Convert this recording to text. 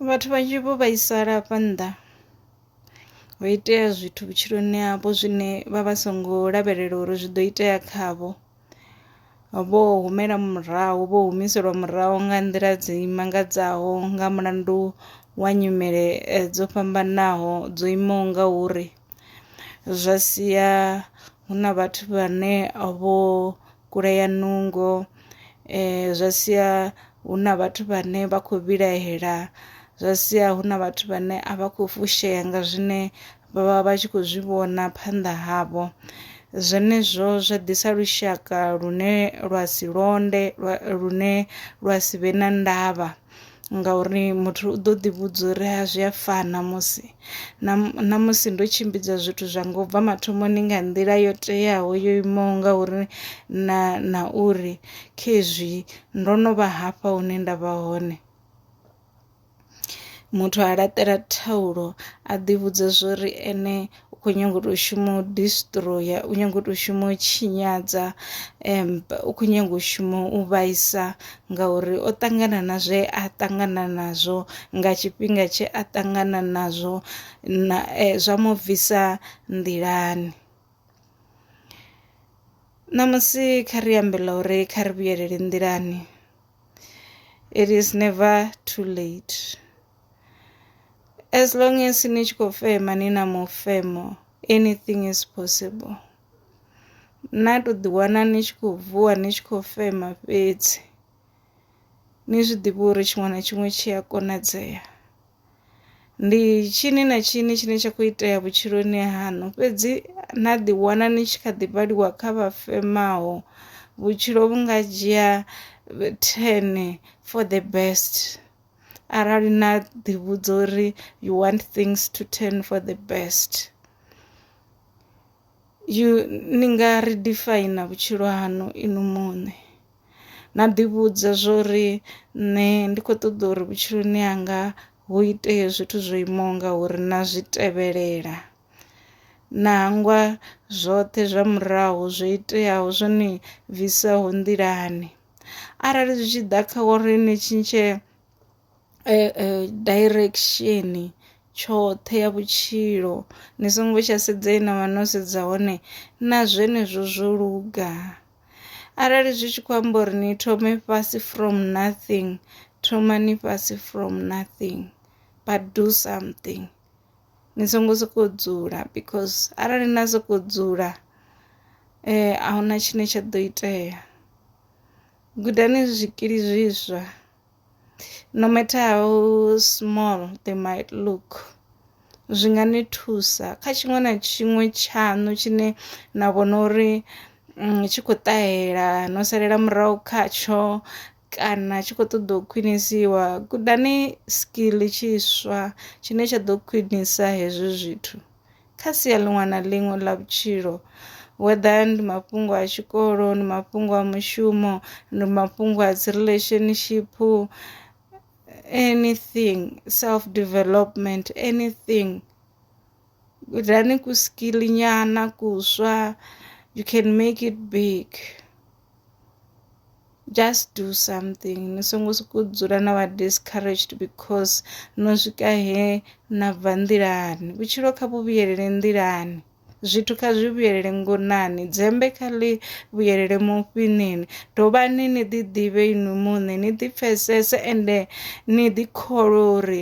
Vhathu vhanzhi vho vhaisala afha nnḓa ho itea zwithu vhutshiloni havho zwine vha vha songo lavhelela uri zwi do itea khavho, vho humela murahu vho humiselwa murahu nga nḓila dzi mangadzaho nga mulandu wa nyimele dzo fhambanaho dzo imaho nga uri zwa sia hu na vhathu vhane vho kulea nungo zwa sia hu na vhathu vhane vha khou vhilahela zwa sia hu na vhathu vhane a vha khou fushea nga zwine vha vha vha tshi khou zwi vhona phanḓa havho. Zwenezwo zwa ḓisa lushaka lune lwa si londe lune lwa si vhe na ndavha. ngauri muthu u ḓo ḓi vhudza uri ha zwi a fana musi na na musi ndo tshimbidza zwithu zwa nga u bva mathomoni nga nḓila yo teaho yo imaho nga uri na na uri khezwi ndo no vha hafha hune nda vha hone. Muthu a laṱela thaulo a ḓi vhudza zwori ene u khou nyanga u tou shuma u destroyer u nyanga u tou shuma u tshinyadza um u khou nyanga u shuma u vhaisa ngauri o ṱangana na zwe a ṱangana nazwo nga tshifhinga tshe a ṱangana nazwo na eh, zwa mu bvisa nḓilani ṋamusi kha ri ambe ḽa uri kha ri vhuyelele nḓilani it is never too late as long as ni tshi khou fema ni na mufemo anything is possible na to ḓi wana ni tshi khou vuwa ni tshi khou fema fhedzi ni zwi ḓivhe uri tshiṅwe na tshiṅwe tshi a konadzea ndi tshini na tshini tshine tsha khou itea vhutshiloni haṋu fhedzi na ḓi wana ni tshi kha ḓi vhaliwa kha vha femaho vhutshilo vhu nga dzhia ten for the best. arali na ḓi vhudza uri you want things to turn for the best you ni nga ri define vhutshilo hanu inu muṋe na ḓi vhudza zwori nṋe ndi kho ṱoḓa uri vhutshiloni hanga hu itee zwithu zwo imaho nga uri na zwi tevhelela na hangwa zwoṱhe zwa murahu zwo iteaho zwo ni bvisaho nḓilani. Arali zwi tshi ḓa kha uri ni tshintshe direction tshoṱhe ya vhutshilo ni songo tsha sedza he na vha no sedza hone na zwenezwo zwo luga. Arali zwi tshi khou amba uri ni thome fhasi from nothing thomani fhasi from nothing but do something. ni songo sokou dzula because arali na sokou dzula ahuna tshine tsha ḓo itea. Gudani zwikili zwiswa no matter how small they might look zwi nga ni thusa kha tshiṅwe na tshiṅwe tshaṋu tshine na vhona uri tshi khou ṱahela no salela murahu khatsho kana tshi kho ṱoḓa u khwinisiwa gudani skill tshiswa tshine tsha ḓo khwinisa hezwi zwithu kha sia ḽiṅwe na ḽiṅwe ḽa vhutshilo whether ndi mafhungo a tshikolo ndi mafhungo a mushumo ndi mafhungo a dzi relationship anything self development anything gudani ku skill nyana kuswa you can make it big just do something ni songo soko dzula na vha discouraged because no swika he na bva nḓilani vhutshilo kha vhu vhuyelele nḓilani zwithu kha zwi vhuyelele ngonani dzembe kha ḽi vhuyelele mufhinini dovhani ni ḓi ḓivhe inwi muṋe ni ḓi pfesese ende ni ḓi kholwe uri